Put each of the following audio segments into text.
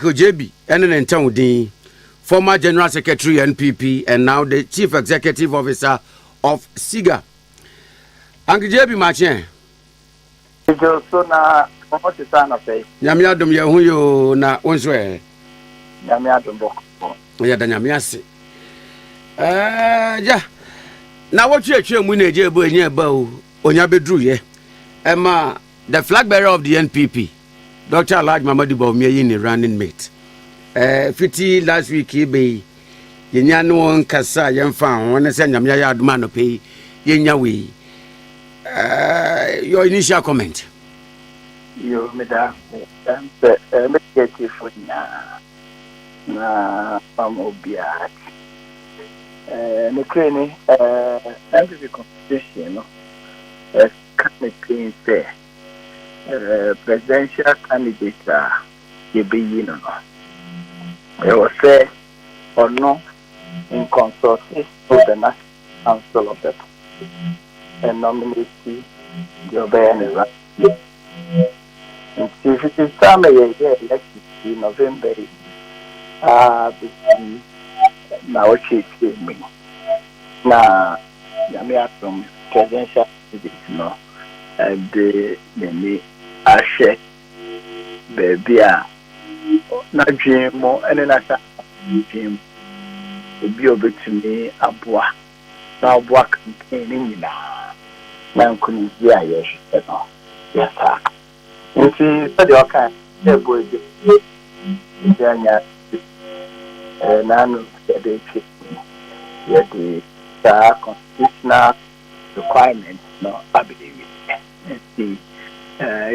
Ojebi ne ne ntaw din, former General Secretary NPP and now the Chief Executive Officer of SIGA. Ankjebi Makyɛn. Dwo so na wɔn te sa anɔpɛ yi. Nyame adom yɛ ho yoo na wo nso ɛ. Nyame adom bɔkɔ. Yɛ da nyame ase. Ɛɛ ya na wɔtwe atwa mu na egye ebo enye eba o onya beduru yɛ. Ɛma the flag bearer of the NPP. Doctor Alhaji Mamadu Bawumia yi ne running mate. Eh, fiti last week yi bɛyi, yɛnya ne wɔn nkasa a yɛmfa ho ne sɛ nyame ayɛ adom anɔpɛ yi, yɛnya wei. Eh, your initial comment? Yo, meda ase. Ɛm sɛ, eh, mɛdi atiefo nyinaa na mam obiara ti. Eh, nokorɛ ni, eh, NPP constitution no, ɛka ne pin sɛ, presidential candidate a yɛbɛyi no no, ɛwɔ sɛ ɔno nkɔnsɔte ɔbɛna council of the nominate deɛ ɔbɛyɛ ne ra nti fiti saa na yɛyɛ election fi november yi aa bɛsi na ɔtwe twe mu na nyame atom presidential David no de n'ani ahwɛ baabi a n'adwene mu ne n'asafo adwene mu obi a obetumi aboa na ɔboa campaign no nyinaa na nkonimdi a yɛhwehwɛ no yɛafa. Nti sɛdeɛ ɔka sɛ bɔ ebi ebi anya n'ano yɛde twe yɛde saa constitutional requirement no aba ewie. Nti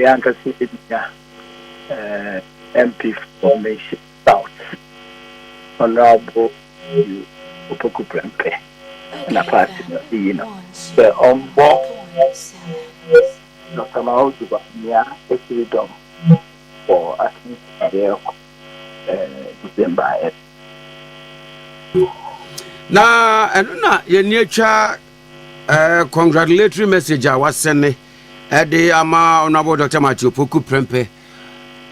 yɛanka sɛ yɛbɛnya MP for Mission South, Honourable Matthew Opoku Prempeh na party no ayi no sɛ ɔmmɔ Dɔkta Mahoogy Bawumia atiridɔm wɔ asɛnka a yɛrekɔ ɛɛ december ɛ. na ɛno na yɛni atwa ɛɛ congratulatory message a wasɛne ɛde ama honourable dr matthew poku prɛmpɛ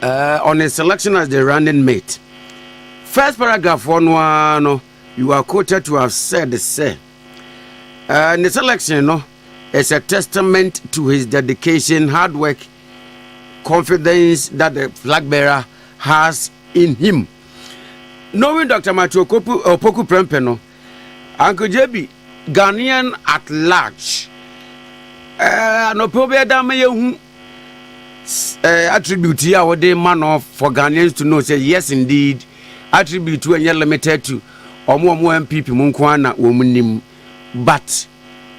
ɛɛ on his selection as the running mate first paragraph foɔ no ara no you are quoted to have said sɛ ɛɛ ne selection no. is a testament to his dedication, hard work, confidence that the flag bearer has in him. Knowing Dr. Matthew Opoku Prempeh, no, Uncle JB, Ghanaian at large, eh, anɔpɛ wobɛyɛ da ma yɛhu eh, attribute yi a wode ma no for Ghanaians to know say yes indeed attribute ɛnyɛ limited to ɔmo ɔmo MPP mu nko ara na wɔn nim. but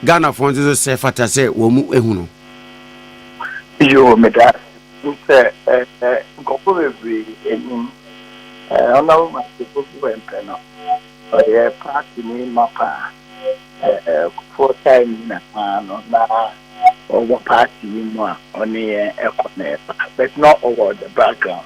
Ghana foɔ nso sɛ fata sɛ wɔn mu ehunu. Yoo meda ase sɛ ɛɛ nkɔfo bebree enim ɛɛ ɔnam ma sefo bi wɔ mpɛ no ɔyɛ paati ni ma paa ɛɛ kufuɔ tae ni na paa no na ɔwɔ paati yi mu a ɔne yɛn ɛkɔ na ɛba but na ɔwɔ the background.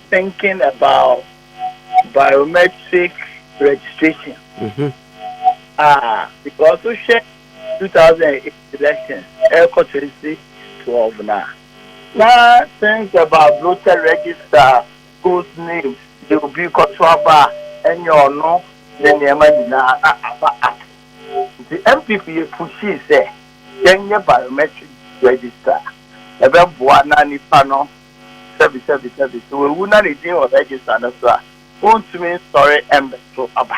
thinking about biometric registration mm-hmm. ah because we share 2008 elections ɛkɔ 2012 na na things about voter register schools names de obi kɔto aba ɛnyɛ ɔno ne nneɛma nyinaa na aba ato nti mpp yɛ pushii sɛ yɛnyɛ biometric register ɛbɛboa na nipa no Sɛbisɛbisɛbi, sɛ wawu na ne din wɔ rɛgyista no so a, wontumi nsɔre mmɛto aba.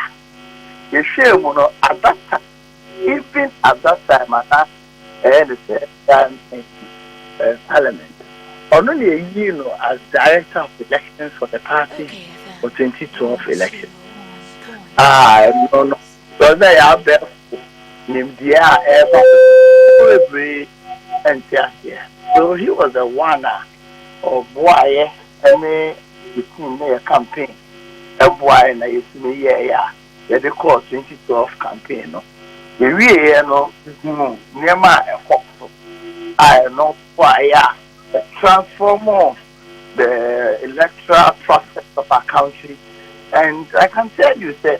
Yɛhwɛɛ mu no, at that time, even at that time a na ɛyɛ ne sɛ Ghana Parliament, ɔno na yɛyii no as Director of Elections for the party for 2012 elections a ɛno no Ɛsɛ sɛ yɛn abɛɛfo nimdeɛ a ɛreba so no ma bebree nte aseɛ. So he was the one a ɔboaeɛ ne the team ne yɛ campaign boaeɛ na yɛtumi yɛeɛ a yɛde kɔɔ 2012 campaign no. Yɛwieeɛ no yɛhunuu nneɛma a ɛkɔɔ so a ɛno boaeɛ a it transformed the electoral process of our country and I can tell you sɛ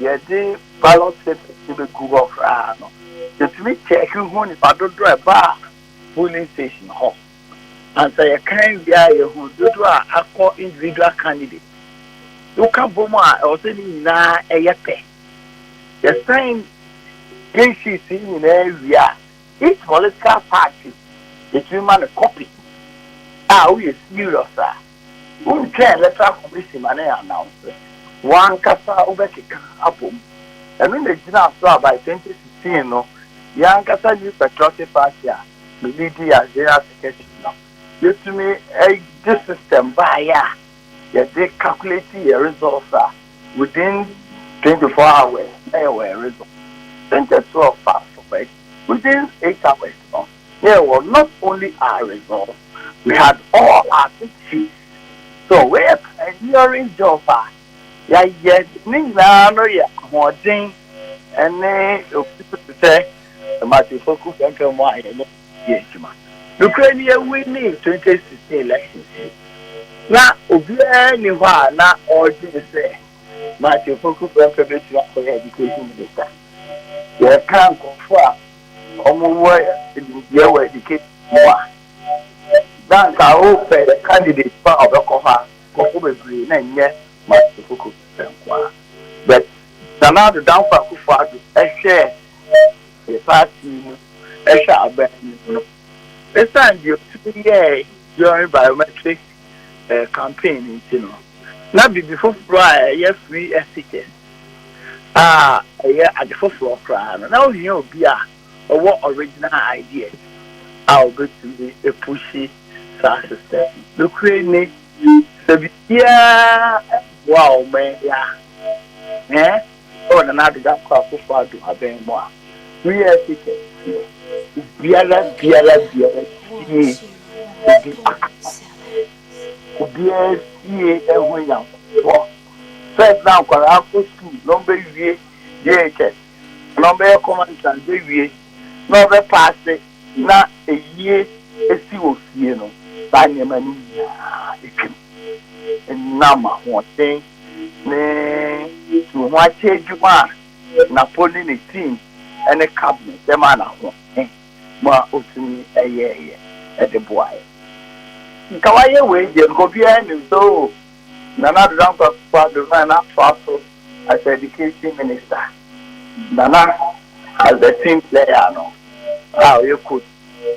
yɛde ballot papers no bɛgu hɔ koraa no, yɛtumi kyɛɛke hu nnipa dodoɔ a ɛbaa polling station hɔ. And sɛ yɛkan wie a, yɛhu dodoɔ a akɔ individual candidates. Woka bom a, ɛwɔ sɛ ne nyinaa ɛyɛ pɛ. Yɛsan green sheets yi nyinaa wie a, each political party yɛtumi ma no copy a woyɛ serious a. Wontwɛn Electoral Commission ma no announce, w'ankasa wobɛkeka abom. Ɛno na ɛgyinaa so a by 2016 no, yɛn ankasa New Patriotic Party a me leadi yɛ as General Secretary no, yɛtumi de system baeɛ a yɛde calculate yɛn results a within 24 hours na yɛwɔ yɛn results. 2012 fast forward, within eight hours no, There was not only our results, we had all our victories. So wei yɛ pioneering job a yɛayɛ ne nyinaa no yɛ ahoɔden ne obi so te sɛ Matthew Poku Fɛnkɛ mu a yɛne yɛ adwuma. Nokorɛ ni yɛwinii 2016 elections yi na obiara nni hɔ a na ɔredwene sɛ Matthew Poku Fɛnkɛ bɛtumi akɔyɛ education minister. Yɛka nkorɔfoɔ a wɔwɔ nimdeɛ wɔ education ho a, na anka wopɛ candidate pa a ɔbɛkɔ hɔ a, nkurɔfo bebree na ɛnyɛ Martin Koko Fisher nko ara. But Nana Addo Dankwa Akufo Addo hwɛɛ party mu hwɛ aban mu no, esiane deɛ otumi yɛe during biometric campaign nti no, na biribi foforɔ a ɛyɛ free etiquette a ɛyɛ ade foforɔ koraa no, na ohia obi a ɔwɔ original ideas a ɔbɛtumi apushi saa system no. Nokorɛ ni, sɛ biribiara mmoa wɔn a, ɛɛ. Sɛ Nana Addo Dankwa Akuffo Addo abɛn mo a, mo yɛɛ se kɛseɛ. Obiara biara biara sie obi akasa. Obiara sie ɛho Nyankopɔn. First na nkwadaa kɔ school na ɔbɛ wie JHS anaa ɔbɛ yɛ common entrance bɛ wie na ɔbɛ paase na ayie asi wɔ fie no saa nneɛma no nyinaa atwam. Ɛnam ahoɔden. ne su ho akyɛ adwuma a Napo ne ne team ne Kabwe de maa no ahoɔden ma otumi yɛeɛ de boaeɛ. Nka wayɛ wei deɛ, nka obiara nnim sɛ oo, Nana Addo Dankwa Akufo-Addo no a na atoa so as Education Minister, Nana as the team player no a ɔyɛ coach no,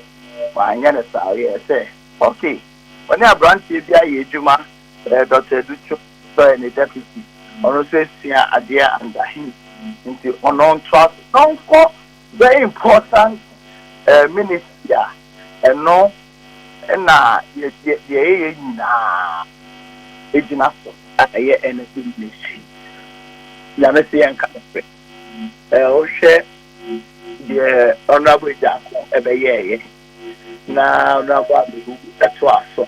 wanyɛ no saa, ɔyɛɛ sɛ okay, ɔne aberanteɛ bi ayɛ adwuma. Dɔkta Adu twe sɔɛ ne deputy ɔno nso esua adeɛ under him nti ɔno ntoa so na ɔnkɔ very important ministry a ɛno na deɛ yɛyɛ nyinaa egyina so a ɛyɛ energy ministry nyame se yɛnka no fɛ wohwɛ deɛ honorable Agyaako ɛbɛyɛɛyɛ na honorable Abehu ɛtoa so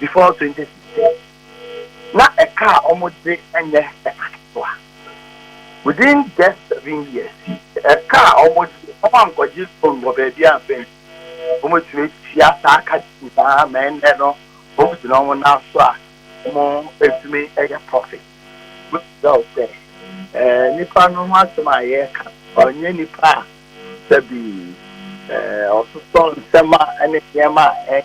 before twenty sixteen na ɛka a wɔde nyɛ ɛka ketewa within just seven years ɛka a wɔde wɔn ankɔgye loan wɔ baabi a mpɛn wɔtumi atua saa ka nyinaa ma ɛnɛ no wɔn gyina wɔn nan so a wɔtumi yɛ profit wosɛ ɔsɛ ɛɛ nipa no ho asɛm a yɛreka ɔnyɛ nipa a sɛbi ɛɛ ɔsosɔ nsɛm a ɛne nneɛma a ɛyɛ.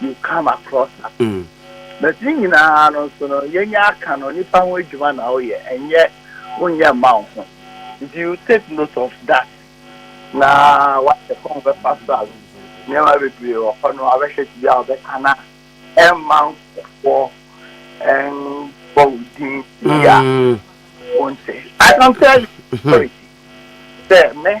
you come across her but ne nyinaa no nso no yɛnya aka no nipa ho adwuma na woyɛ ɛnyɛ wonyɛ mma wo ho nti you take note of that na wahwɛ kɔn bɛfa so a nneɛma bebree wɔ hɔ no abɛhwɛ ti bi a wɔbɛka na ɛmma nkɔfoɔ ɛnbɔ wo din yia wonte I can tell you sorry sɛ me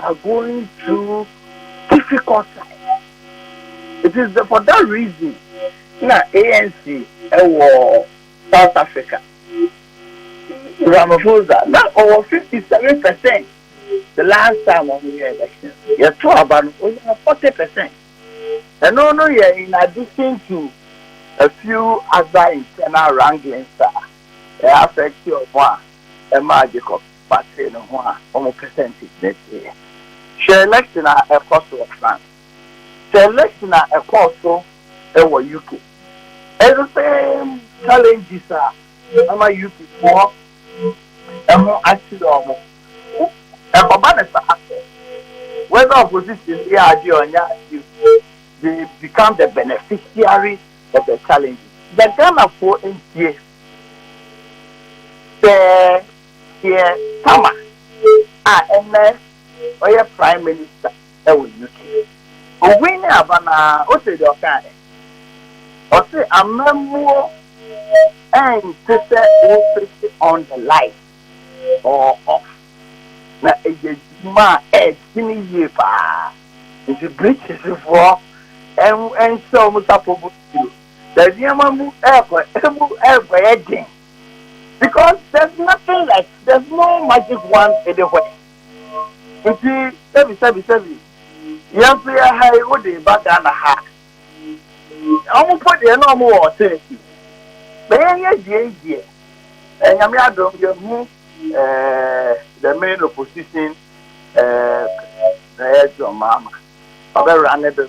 are going through difficult times it is the for that reason na ANC ɛwɔ South Africa Ramaphosa na ɔwɔ 57 percent the last time ɔmo yɛ election yɛ to aba no ɔnya 40 percent ɛno no yɛ in addition to a few other internal wranglings a ɛyɛ affect ɔmo a ɛmaa Jacob. wɔatee ne ho a wɔpɛ sɛ nte sɛ teɛ. Hwɛ election a ɛkɔ so wɔ France. Hwɛ election a ɛkɔɔ so wɔ UK. Ɛyɛ the same challenges a ama UK foɔ ho akyere wɔn. Wo ɛkɔba no saa sɛ whether opposition no yɛ adeɛ a ɔnyɛ adeɛ o, they become the beneficiary of the challenges. Yɛ Ghanafoɔ ntie sɛ. Keir Starmer a ɛnnɛ ɔyɛ Prime Minister wɔ UK. Owui ne aba no ara ose deɛ ɔkaeɛ. Ɔse amammuo nte sɛ wo switch on the light or off na ɛyɛ adwuma a ɛɛdwene yie paa. Nti Britishfoɔ nhyɛ wɔn sapɔ mu bio. Sɛ nneɛma mu ɛɛkɔ ɛmu ɛɛkɔyɛ den. because there's nothing like there's no magic one anywhere nti sɛbi sɛbi sɛbi yɛn nso yɛ ha yi wode ba ghana ha wɔn mpo deɛ na wɔn wɔ ɔtɛnɛti bɛyɛ yɛ deɛ yi deɛ ɛnyame adom yɛ hu ɛɛ the main opposition ɛɛ ɛɛ john mahama ɔbɛwura ne bɛ.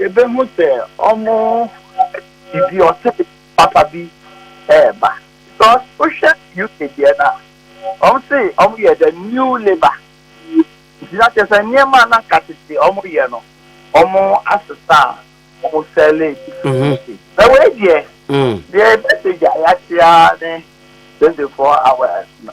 Yebehu sɛ wɔde dɔte papa bi reba. Because wohwɛ UK deɛ no a, wɔse wɔyɛ the new labour. Nti na kyerɛ sɛ nneɛma a na anka tete wɔyɛ no, wɔasesa a wɔsɛle bi. Na wei deɛ, deɛ ɛbɛsɛ gya yɛate ara ne 24 hours no.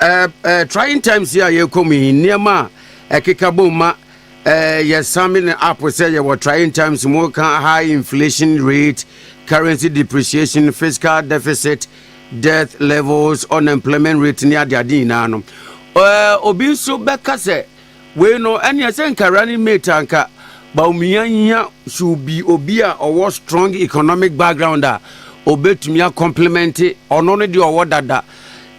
Ɛɛ trying times yi a yɛkɔ mu yi nneɛma a ɛkeka bom ma ɛɛ yɛsan me ne app sɛ yɛwɔ trying times mu ka high inflation rate currency depreciation fiscal deficit death levels unemployment rate ne adeade nyinaa no ɛɛ obi nso bɛka sɛ wei no ɛneɛ sɛ nka running mate anka baumia hia should be obi a ɔwɔ strong economic background a obetumi a complement ɔno no deɛ ɔwɔ dada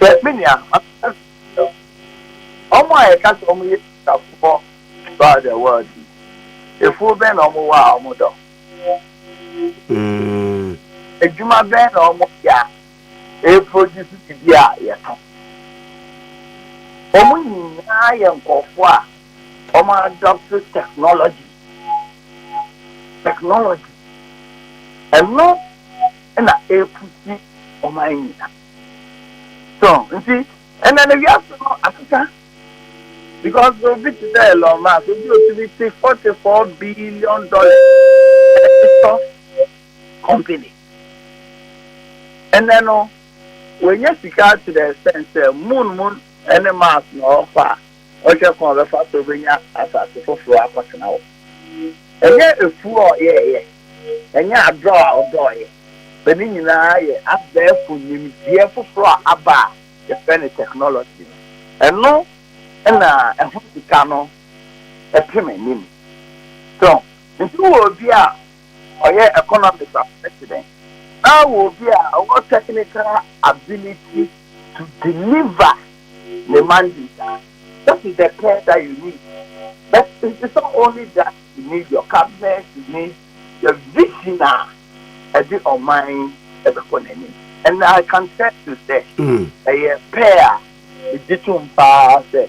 Sɛ me nua, maka sɛ wo, wɔn a yɛka sɛ wɔyɛ Kristofoɔ throughout the world yi, afuo bɛn na wɔwɔ a wɔdɔ? Adwuma bɛn na wɔyɛ a ɛreproduce biribi a yɛtɔn? Wɔn nyinaa yɛ nkurɔfoɔ a wɔadopt technology, technology, ɛno na ɛrepusi ɔman nyina so nti ɛnɛ no wiase no akeka because obi te sɛ Elon Musk obi otumi te forty four billion dollars ɛtɔ company ɛnɛ no wɔnyɛ sika to the extent sɛ moon moon ɛne Mars na ɔkɔ a Ɔhwɛ kwan a ɔbɛfa so obenya asase foforo akɔtena hɔ. Ɛnyɛ afuw a ɔyɛe, ɛnyɛ adɔw a ɔdɔɔe, but ne nyinaa yɛ abɛɛfo nimdeɛ foforo a aba a yɛfrɛ no technology no. Ɛno na ɛho sika no pem anim. So, nti wowɔ obi a Ɔyɛ economics as president na ɔwɔ obi a ɔwɔ technical ability to deliver ne mandate a that is the care that you need but it is not only that you need your cabinet you need the vision a ɛde ɔman ɛbɛkɔ n'anim and I can tell you sɛ ɛyɛ pɛ a megye tom paa sɛ.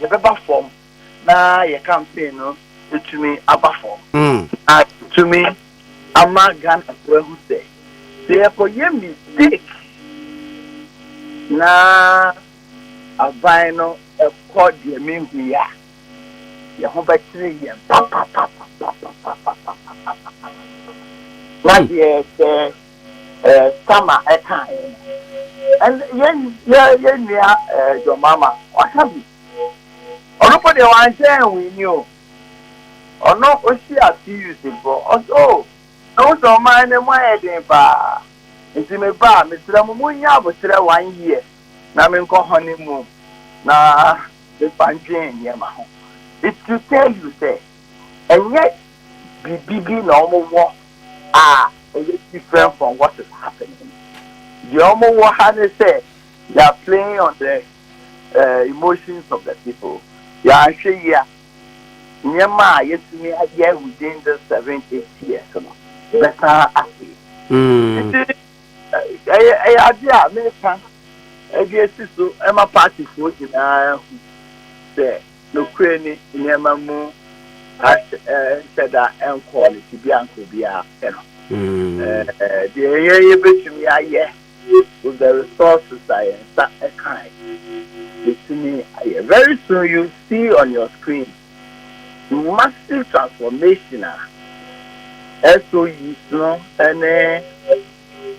yɛbɛba fam na yɛ campaign no atumi aba fam na tumi ama Ghanafo ahu sɛ sɛ yɛkɔyɛ mistake na aban no kɔ deɛ menhu yi a, yɛn ho bɛkyere yɛn papapapapapapapapapa. Na deɛ sɛ eh, Sama ɛkaeɛ no. And yɛn yɛ yɛn nua eh, John Mahama waka bi. Ɔno mpo deɛ wanhyɛ ɛnwini o. Ɔno ohyia TUC foɔ. Ɔsɛ o, oh, ɛho sɛ ɔman no mu ayɛ den paa. Nti me ba, mesrɛ mo mo nya aboterɛ one year na menkɔ honeymoon na mefa ndwen nneɛma ho. It should tell you sɛ. Ɛnyɛ biribi bi na wɔwɔ a ɛyɛ different from what is happening. Deɛ wɔwɔ ha ne sɛ they are playing on the uh, emotions of the people. Yɛanhwɛ yie a, nneɛma a yɛtumi ayɛ within this seven eight years no bɛsan ase. Nti ɛyɛ ɛyɛ ade a meka ɛde asi so ɛma partyfoɔ nyinaa hu sɛ. Nokorɛ ni, nneɛma mu ahyɛ nhyɛ da nkɔɔ ne tebea nkorɔbiara pɛ no. Deɛ yɛn yɛbɛtumi ayɛ with the resources a yɛn nsa ka ɛ, yɛtumi ayɛ. Very soon you see on your screen the massive transformation a SOUs no ne.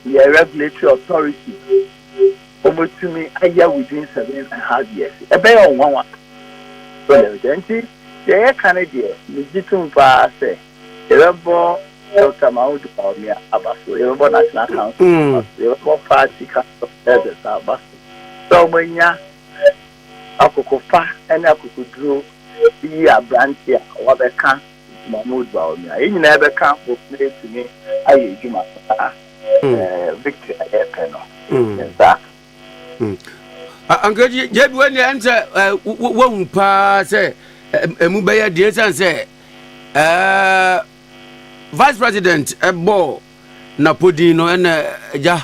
yɛ regulatory authority, wɔbɛtumi ayɛ within seven and half years. Ɛbɛyɛ wɔn nwanwa. Sɛ nti, deɛ yɛka no deɛ, megye tom paa sɛ yɛbɛbɔ Dr. Mamoudou Bawumia aba so, yɛbɛbɔ National Council mm. aba so, yɛbɛbɔ Party Council of Elders aba so sɛ wɔanya akokofa ne akokoduro yi aberante a wɔabɛka Dwuma no odu a ɔnya. Yɛn nyinaa bɛka ho na yɛatumi ayɛ adwuma saa. Victory a yɛpɛ no, ne saa. Anka gye bi wɔn ɛn sɛ wɔhu paa sɛ ɛmu bɛyɛ deɛ sɛn sɛ vice president ɛbɔ napodin no ɛna ɛgya.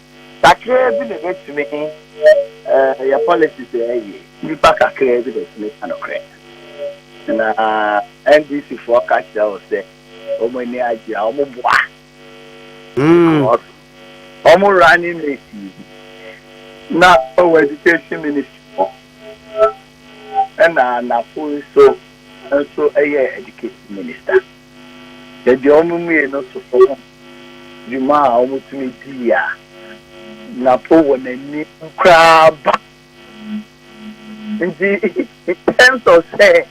Kakraa bi na ɛbɛtumi yɛ policy sɛ ɛyɛ. Nnipa kakraa bi na ɛtumi ka nokorɛ. Na NDC foɔ ka kyerɛ wo sɛ wɔn ani agye a, wɔn boa. Because wɔn running mate yi na ɔwɔ education ministry hɔ. Ɛna Anafo nso nso yɛ education minister. Baabi a wɔwiee no toto ho dwuma a wɔtumi dii a na po wɔ n'anim koraa ba. Nti, in terms of sɛ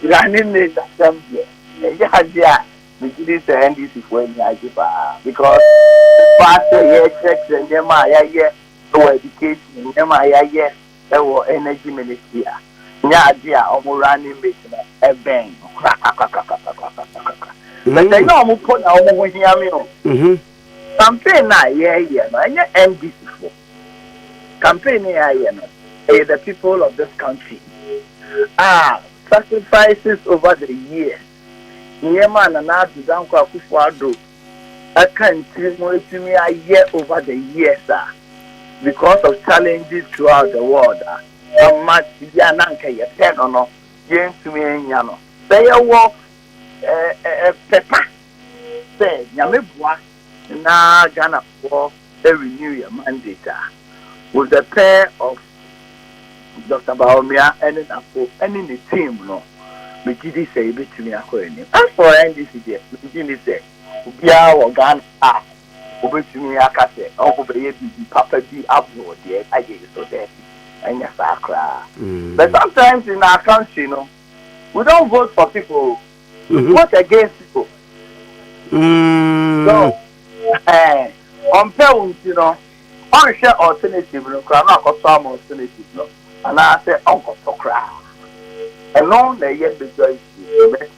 Iran ne Nil asɛm deɛ, ɛyɛ adeɛ a megye di sɛ NDCfoɔ ani agye paa because ɛba sɛ yɛrekyerɛkyerɛ nneɛma a yɛayɛ wɔ education, nneɛma a yɛayɛ wɔ Energy Ministry a, nyɛ ade a wɔn running mate no bɛn no korakrakrakrakrakrakrakra. But ɛnyɛ wɔn mpo na wɔn ho hia me o. Campaign no a yɛreyɛ no, ɛnyɛ NDCfoɔ. Campaign no a yɛayɛ no, ɛyɛ the people of this country a sacrifices over the years, nneɛma a Nana Addo Dankwa Akufo-Addo ɛka ntiri mu ɛtumi ayɛ over the years a because of challenges throughout the world a ama biribi a na anka yɛpɛ no no yɛntumi anya no sɛ yɛwɔ ɛɛ ɛɛ pɛpa sɛ nyame boa na Ghanafoɔ a renew yɛn mandate a, with the pair of Doctor Bawumia ne n'afo ne ne team no, megye di sɛ yɛbɛtumi akɔ anim. As for NDC deɛ, megye nni sɛ obiara wɔ Ghana a ɔbɛtumi aka sɛ ɔbɛyɛ biribi papa bi aboro deɛ ayɛ yi so, daabi, ɛnyɛ saa koraa. But sometimes in our country no, we don't vote for people, we vote against people. So, Ɛɛ, ɔmpɛ wo nti no, ɔnhwɛ alternative no koraa na wakɔtɔ ama alternative no anaasɛ ɔnkɔtɔ koraa. Ɛno na ɛyɛ majority in the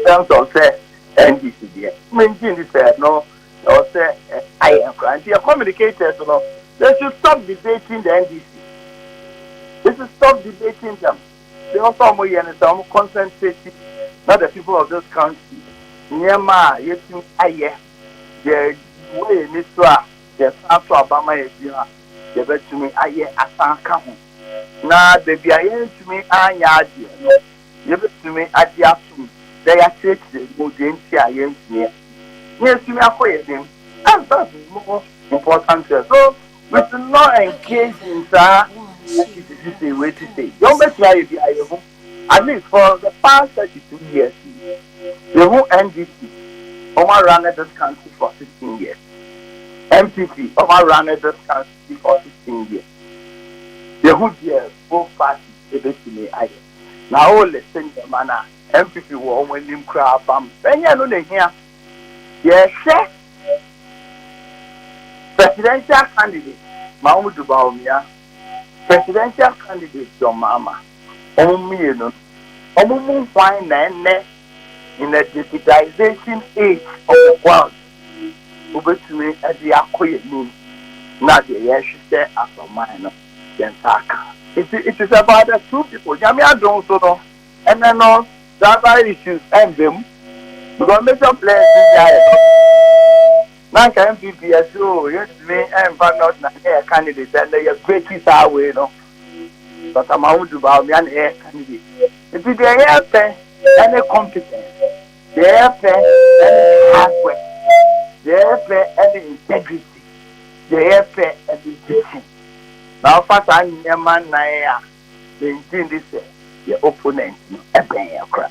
sense of sɛ NDC deɛ. Mengye nni sɛ ɛno na ɛwɔ sɛ ayɛ koraa. Nti yɛ communicators no, they should stop debating the NDC. They should stop debating them. Deɛ ɛwɔ sɛ wɔyɛ no sɛ wɔn concentrate na the people of this country nneɛma a yɛtumi ayɛ. Yɛ wɔ yɛn ani so a, yɛ san to aba ma yɛ bio a, yɛ bɛ tumi ayɛ asan aka ho. Na baabi a yɛn ntumi anyɛ adeɛ no, yɛ bɛ tumi agye atom na yɛ akyerɛkyerɛ mu deɛ nti a yɛn ntumi a. Na yɛ tumi akɔ yɛn anim. Answers is more important here so we should not engage in saa, yɛ si sisi sei, wei si sei. Deɛ wɔn bɛ tumi ayɛ biara yɛ hu. At least for the past thirty two years yi, yehu NDC, wɔn a runne this country for sixteen years, NPP, wɔn a runne this country for sixteen years, yehu deɛ both parties ebetumi ayɛ. Na o list nneɛma no a NPP wɔ wɔn anim koraa pam, ɛnyɛ ɛno na ehia. Yɛrehwɛ presidential candidate ma wɔn du Bawumia Presidential candidate John Mahama, wɔn mmienu no, wɔn mu hwan na ɛnnɛ in a digitization age of the world wobɛtumi de akɔ yɛn anim na deɛ yɛhwehwɛ as ɔman no yɛn nsa aka? Nti it is about the two people, Nyame adom so no ɛnnɛ no tribal issues ɛmba mu because major players biara yɛ. Na nka NPP ɛse oo yɛntumi ɛmfa North na nyɛ yɛn candidate ɛnɛ yɛ breaki saa wei no Doctor Mahmudu Bawumia na ɛyɛ yɛn candidate nti deɛ yɛpɛ ɛne competence deɛ yɛpɛ ɛne hard work deɛ yɛpɛ ɛne integrity deɛ yɛpɛ ɛne vision na wofa saa nneɛma nnan a mengye ndi sɛ yɛn opponent no ɛbɛn yɛn koraa.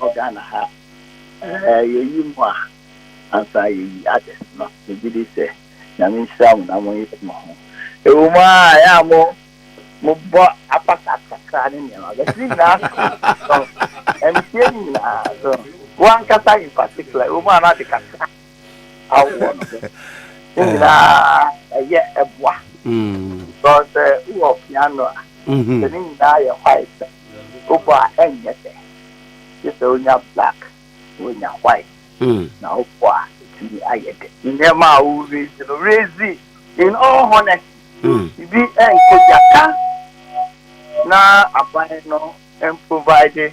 wɔ Ghana ha a, yɛyi mo a, ansa yɛyi others no, megye di sɛ Nyame nhyira mo na monyere mo ho. Ɛwɔ mu ara a, ɛyɛ a mo, mobɔ apata kakra ne nneɛma, but ne nyinaa so no, so ɛnteɛ ne nyinaa, so wo ankasa in particular, ɛwɔ mu a na ade kakra. awoɔ no bɛ ne nyinaa ɛyɛ ɛboa sɛ sɛ wowɔ piano a sɛ ne nyinaa yɛ white wobɔ a ɛnyɛ dɛ gye sɛ wonya black na wonya white na wobɔ a ɛtumi ayɛ dɛ nneɛma a wo raise no raise in all honesty bi ɛnkɔ gya ka na aban no ɛmprovide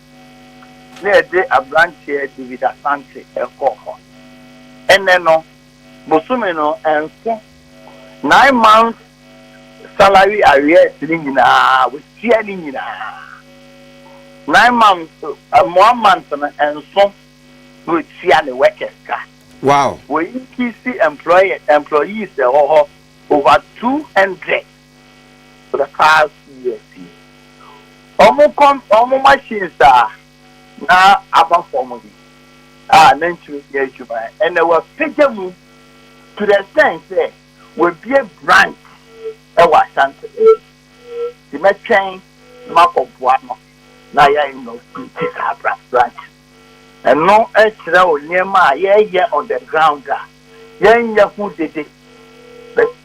na ɛde aberanteɛ David Asante kɔɔ hɔ. Ɛnnɛ no, bosome no nso, nine months salary arrears no nyinaa, watua ne nyinaa. Nine months, one month no nso na watua ne workers ka. Wow! Wɔincrease employees wɔ hɔ over two hundred. the past two years yi ɔmo kɔm ɔmo machines a na aba fam yi a na ntumi nyɛ adwuma ɛnɛ wapagya mu to the extent sɛ wabie branch ɛwɔ Ashanti nti mɛtwɛn makɔ boa no na yɛ no ti saa branch ɛno ɛkyerɛ o nneɛma a yɛyɛ on the ground a yɛnyɛ ho dede.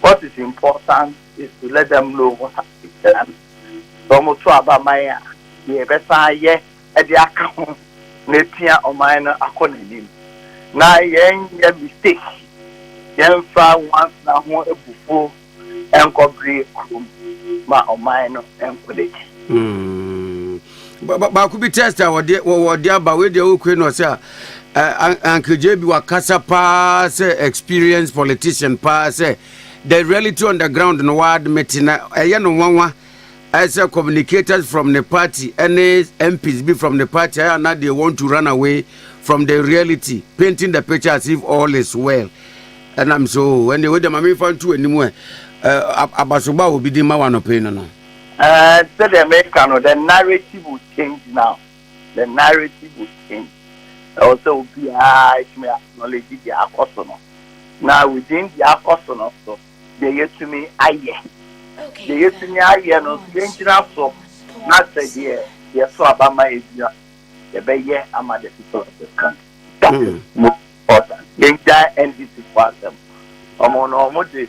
What is important is to let them know what has been done, sɛ wɔn to aba ma yɛn a, deɛ yɛbɛsan ayɛ de aka ho na apia ɔman no akɔ n'anim, na yɛn nyɛ mistake, yɛn mfa nwansena ho abufuo nkɔ bere kurom ma ɔman no nkɔ n'akyi. baako bi test a wɔde wɔde aba wei deɛ wokue no sɛ a ankeje bi wakasa paa sɛ experience politician paa sɛ the reality on the ground no waadmete na ɛyɛ no nwanwa ɛsɛ communicators from the party ɛne mps bi from the party ɛyɛ ana deɛ want to run away from the reality painting the picture as if all is well ɛnam so ɛne wei deɛ ma memfa nto anim ɛ abasoba a obi de ma wanɔpɛ no no Ɛɛ, sɛdeɛ meka no, the narrative will change now, the narrative will change. Ɛwɔ sɛ obiara tumi acknowledge deɛ akɔ so no, na within deɛ akɔ so no so, deɛ yɛtumi ayɛ. Deɛ yɛtumi ayɛ no nso, yɛngyina so na sɛ deɛ yɛso aba ma ɛdua, yɛbɛyɛ ama the people of this country. That is most important. Yɛngyae NDC foɔ asɛm. Wɔn no, wɔde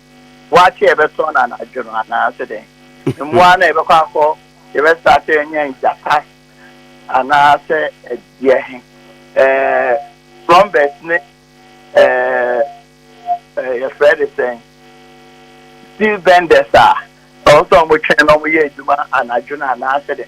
Waakye a ɛbɛtɔn no anadwo no anaa sɛ dɛn? Mmoa no a yɛbɛkɔ akɔ yɛbɛsra sɛ yɛnyɛ ngyata anaa sɛ ɛdeɛ he? Ɛɛ Frɔmbɛs ne ɛɛ yɛfrɛ de sɛn? Steel bɛndɛs a ɔwɔ sɛ wɔtwɛn na wɔyɛ adwuma anadwo no anaa sɛ dɛn?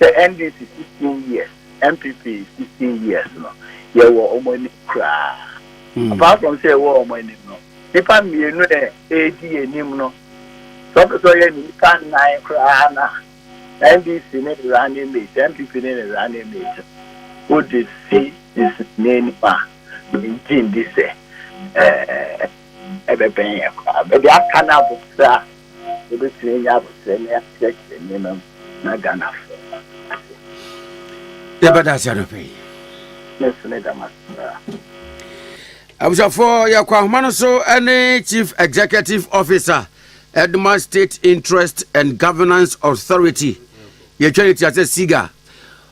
Sɛ NDC sixteen years, NPP sixteen years no, yɛwɔ wɔn anim koraa. Apart from sɛ yɛwɔ wɔn anim no, nipa mmienu na ɛredi anim no, sɛ ɔpɛ sɛ ɔyɛ ne nipa nnan koraa na NDC ne ne running mate, NPP ne ne running mate, wode si n'anim a, megye ndi sɛ ɛbɛbɛn yɛn koraa. Bɛde aka no abotire a. yɛbɛtumi anya abotire na yɛakyerɛkyerɛ nneɛma mu na Ghanafoɔ ate aseɛ. Yɛbɛda ase anɔpɛ yi. Ne nso ne dama koraa. abusuafoɔ yɛkɔ ahoma no so ne chief executive officer edma state interest and governance authority yɛtwa ne ti asɛ siga